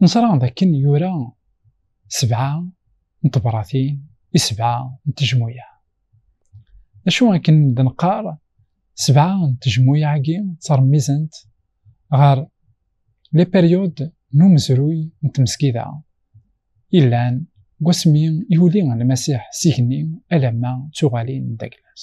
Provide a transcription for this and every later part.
Neẓra dakken yura sebɛa n tebratin i sebɛa n tejmuyaɛ. D acu akken d neqqar sebɛa n tejmuyaɛ-agi ttermizent ɣer les périodes n umezruy n tmesgida yellan deg wasmi i yuli Lmasiḥ s igenni alamma d tuɣalin n Daglas.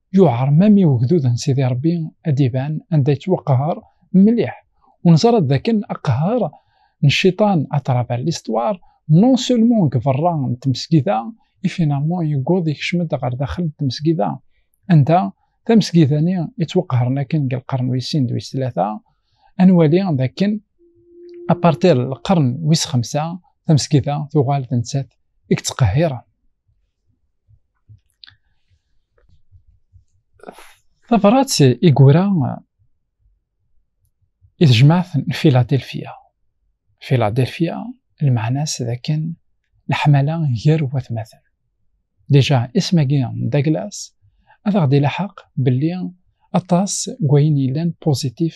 yuɛer mami ugdud n Sidi Rebbi ad d-iban anda yettwaqehher mliḥ, u neẓra-d d akken aqehher n cciṭan à travers l'histoire non seulement deg berra n tmesgida i finalement yewweḍ yekcem-d ɣer daxel n tmesgida, anda tamesgida-nni i ttwaqehren akken deg lqern wis sin d wis tlata, ad nwali d akken à partir lqern wis xemsa tamesgida tuɣal d nettat i yettqehhiren. tabrat i yura i tejmaɛt n Filadelfia. Filadelfia lmeɛna-s d akken leḥmala gar watmaten. Déjà isem-agi n Douglas ad aɣ-d-ilaḥaq belli aṭas n wayen yellan positif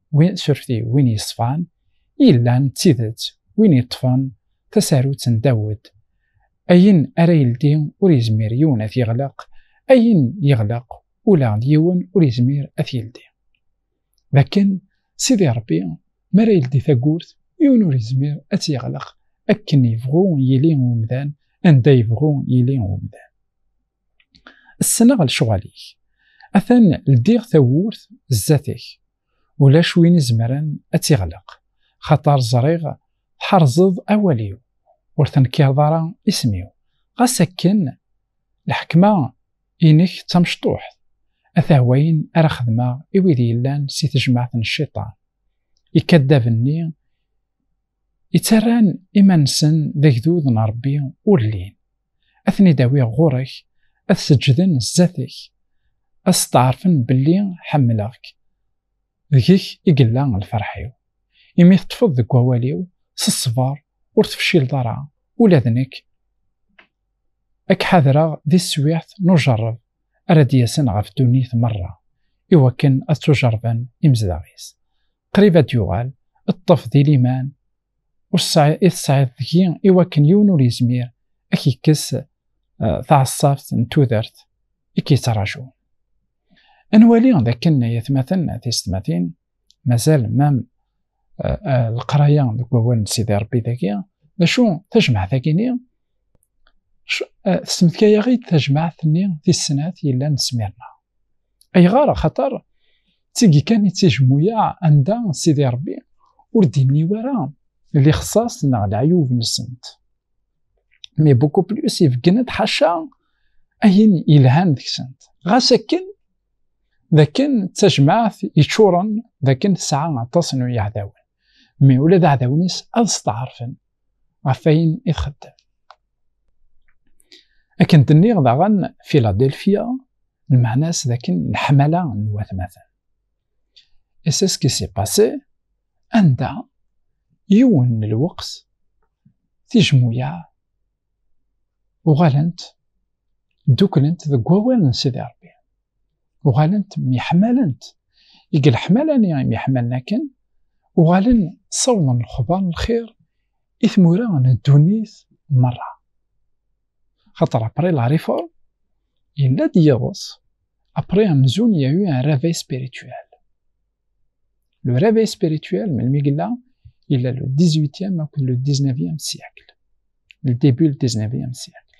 win surti win yeṣfan yellan d tidet win yeṭṭfen tasarut n Dawed ayen ara yeldi ur yezmir yiwen ad yeɣleq ayen yeɣleq ula d yiwen ur yezmir ad yeldi dakken sidi Rebbi mi ara yeldi tagurt yiwen ur yezmir ad tt-yeɣleq akken yebɣu yili umdan anda yebɣu yili umdan Ssneɣ lecɣal-ik. Atan ldiɣ tawwurt zdat-k. Ulac win izemren ad tt-iɣleq. Xaṭer ẓriɣ tḥerzeḍ awal-iw. Ur tenkireḍ ara isem-iw. Ɣas akken lḥekma inek d tamecṭuḥt. Ata wayen ara xedmeɣ i wid yellan si tejmaɛt n cciṭan. Ikaddaben-nni Ittarran iman-nsen d agdud n Ṛebbi ur llin. Ad ten-id-awiɣ ɣur-k, ad seǧǧden sdat-k, ad steɛṛfen belli ḥemmleɣ-k, deg-k i yella lferḥ-iw. Imi teṭṭfeḍ deg wawal-iw s ṣṣber, ur tefcileḍ ara, ula d nekk ad k-ḥadreɣ di teswiɛt n ujeṛṛeb ara d-yasen ɣef ddunit meṛṛa, i wakken ad ttujeṛṛben imezdaɣ-is. قريب ad yuɣal ṭṭef di liman ur tesɛiḍ deg-i i wakken yiwen ur yezmir ad k-yekkes taɛeṣṣabt n tudert i k-yettṛajun. Ad nwali d akken ay atmaten tisetmatin mazal mam leqraya deg wawal n Sidi Ṛebbi dagi d acu tajmaɛt-agi-nni tesmetkay-aɣ-id tajmaɛt-nni tis snat yellan d Smirna. ayɣer xaṭer d tigi kan i tt-ijmuyaɛ anda Sidi Ṛebbi ur d-inni wara lixṣaṣ neɣ leɛyub-nsent mais beaucoup plus ibeggen-d ḥaca ayen yelhan deg-sent ɣas akken d akken d tajmaɛt yeččuren d akken tesɛa aṭas n yiɛdawen mais ula d aɛdawen-is ad steɛṛfen ɣef ayen i txeddem. Akken d-nniɣ daɣen Philadelphia, lmeɛna-s d akken leḥmala n watmaten. Et c'est ce qui s'est passé, anda yiwen n lweqt tijmuyaɛ uɣalent dduklent deg wawal n Sidi Rebbi. uɣalent myeḥmalent i geleḥmala-nni myeḥmalen akken uɣalen ssawḍen lexbar n lxir i tmura n ddunit merra xaṭer après la réforme yella-d yiḍes après amzun il y a eu un réveil spirituel le réveil spirituel melmi yella yella le 18e akked le 19e siècle le début le 19e siècle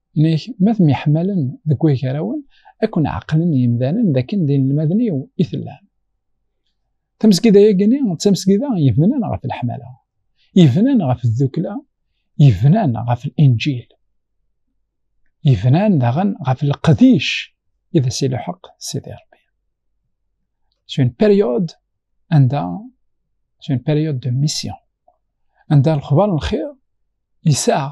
Nek, ma temyeḥmalen deg wagarawen, ad ken-ɛeqlen yimdanen dakken d inelmaden-iw i tellam. Tamesgida-yagini d tamesgida yebnan ɣef leḥmala, yebnan ɣef tdukla, yebnan ɣef linǧil, yebnan daɣen ɣef leqdic i d as-iluḥeq Sidi Rebbi. C'est une période anda c'est une période de mission anda lexbar n lxir yessaɣ